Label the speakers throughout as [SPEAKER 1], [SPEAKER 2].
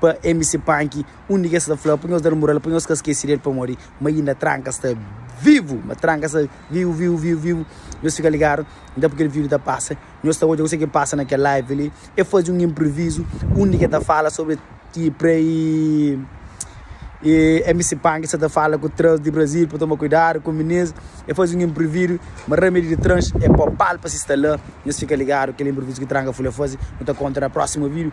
[SPEAKER 1] pa MC Punk undi ki es ta fla pa nhos da-l mural, pa nhos ka skese di el pamodi ma inda Tranka sta vivu, ma Tranka sta vivu, vivu, vivu, vivu, nhos fika ligadu nta pui kel vídiu ta pasa, nhos ta odja kuzê ki pasa na kel live li, el faze un inprivizu undi ki el ta fala sobri ki pra MC Punk sta ta fala ku trans di Brazil pa toma kuidadu ku minês, el faze un inprividu ma Ramedy di trans é popa-l pa si sta la, nhos fika ligadu kel inprivizu ki Tranka Fulha faze, nu ta konta na próxima vídiu.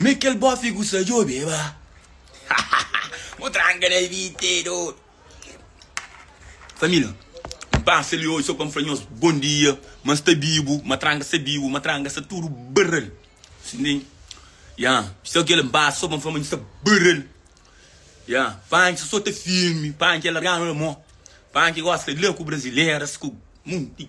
[SPEAKER 2] Me kel bofe ku sa djobe ba Mo tranka na vite dor Família N pasa li oji so pa N fla nhos bon dia Ma N sta bibu Ma tranka sta bibu Ma tranka sta tudu barral Sin di Ya Só kel N pasa so pa N fla ma N sta barral Ya Panchi so ta filmi Panchi el larganu la mo Panchi gosta la ku brasileras ku monti.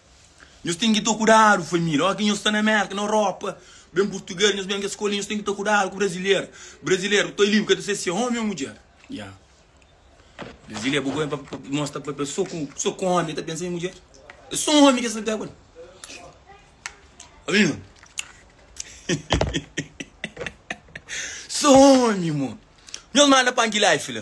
[SPEAKER 2] Nhos ten ki ta kudadu família Oki nhos sta na Mérka, na Europa Ben purtuges, nhos ben kes skola Nhos ten ki ta kudadu ku brazileru Brazileru bu ta libi, bu ka ta se se omi ô mudjer Ya brazileru bu ben pa mostra pa pes so ku so ku omi ta pensa i mudjer E so omi ki es ta pega li Obi-m So omi mo Nhos manda pa Anki-Life la.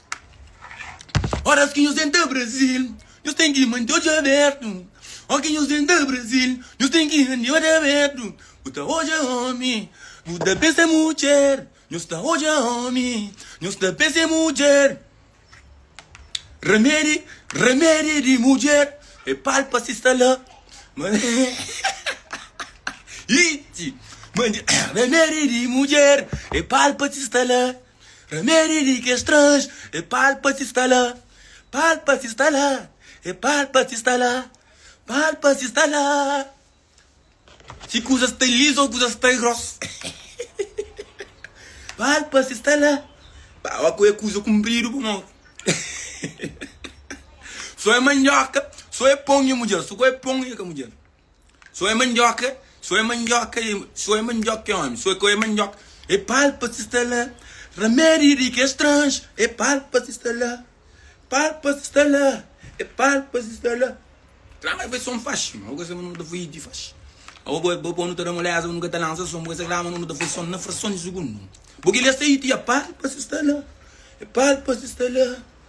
[SPEAKER 2] Óras ki nhos entra Brazil Nhos ten ki mante odju abértu Óras ki nhos entra Brazil Nhos ten ki mante odju abértu Bu ta odja ómi Bu ta pensa é mudjer Nhos ta odja ómi Nhos ta pensa é mudjer Ramedi Ramedi di mudjer É palpa si sta la Iti Ramedi di mudjer É palpa si sta la Rameri di kes trans e pal pa si sta la Pal pa si sta la E pal pa si sta la Pal pa si sta la Si kuza sta lizu o kuza sta gros Pal pa si sta la Ba ba ku e kuza kunpridu pa mos So e mandioka so e pon e mudjer So ku e pon e ka mudjer. So é mandioca So é mandioca So é mandioca é homem So é mandioca É palpa si sta la Remédio di kes strange É palpa si sta la Palpa si sta la É palpa si sta la Tra ma é foi som faxi ma bo ka sabe nu ta foi di faxi ma bo bo bo nu ta da moleza bo nu ka ta lansa som bo ka sagraba nu nu ta foi som na frason di sugundu bo ki lê sta iti É palpa si sta la É palpa si sta la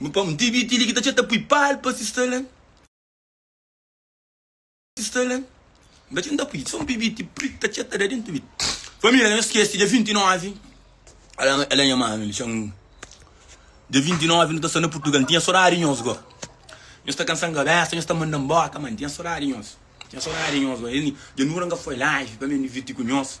[SPEAKER 2] Nu pa mtb ti li ki ta txeu ta pui pal pa si stalen si stalen N ta txeu N ta pui so mtb ti pri ta txeu ta da di mtb Família ka ta skese dia 29 ala ala nha mame li txeu dia 29 nu ta sta na Purtugal N tinha sodadi di nhos go Nhos ta kansa-m kabésa nhos ta manda-m bóka Má N tinha sodadi di nhos N tinha sodadi di nhos go Dia nu ora N ka foi laji pa mi diviti ku nhos.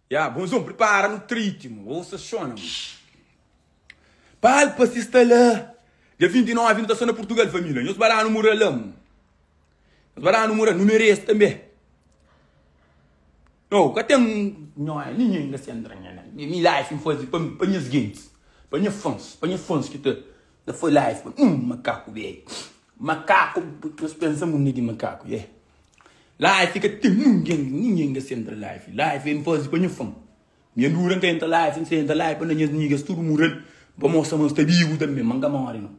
[SPEAKER 2] Ya bonzon pripara nu triti mo osa xona mo palpa si sta la dia 29 nu ta sta na purtugal família nhos ba danu mura la mo nhos ba danu mura nu merese tanbe no ka ten nhos é ninhen inda sen dranha na mi life mi faze pa mi pa nhas gentis pa nha fans pa nha fans ki ta El foi lá e fla, Hum, makaku beiu. Makaku, nhos pensa mundu é di makaku, yeah. Lá e fika ten nungen, nungen ka sa entra lá e fika. Lá e fika, N faze pa nha fam. Nha dura N ka entra lá e fika, N sa entra lá e fika pa nhas nigas tudu mura li, N pa mostra ma nhos ta bibu tanbe, ma N ka mori no.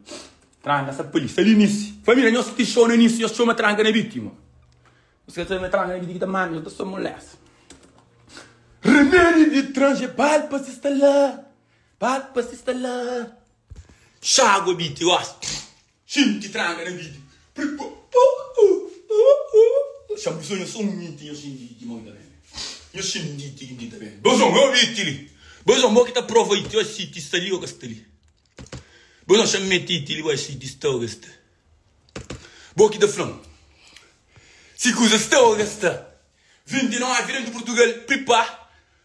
[SPEAKER 2] Tranka sa pali, sa li nisi. Família nhos ti xou na nisi, nhos txoma tranka na biti, ma nhos ka sabe ma é tranka na biti ki ta manda nhos ta sta molesta. Remédio de trange, palpa si sta lá, palpa si sta lá. Xágua biti gosta. Xinti tranga na biti. Xa bu sonha sô un niti nha xinditi mon ta ben. Nha xinditi ki nti ta ben. Bo son ô biti li. Bo son bo ki ta prova iti oi si ti sta li ô ka sta li. Bo son xa mete iti li oi si ti sta ô ka sta. Bo ki ta fla-m si kuza sta ô ka sta. 29 den di Purtugal pripá.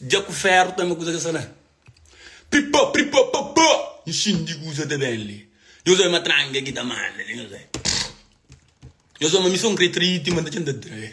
[SPEAKER 2] Dja ku ferru tanba kuza ka sta la Pripá pripá papá Inxinu di kuza ta ben li Nhos oi matranga ki ta manda li Nhos oi Nhos oi ma mi so n kre trai-i Ti manda txentá trai-i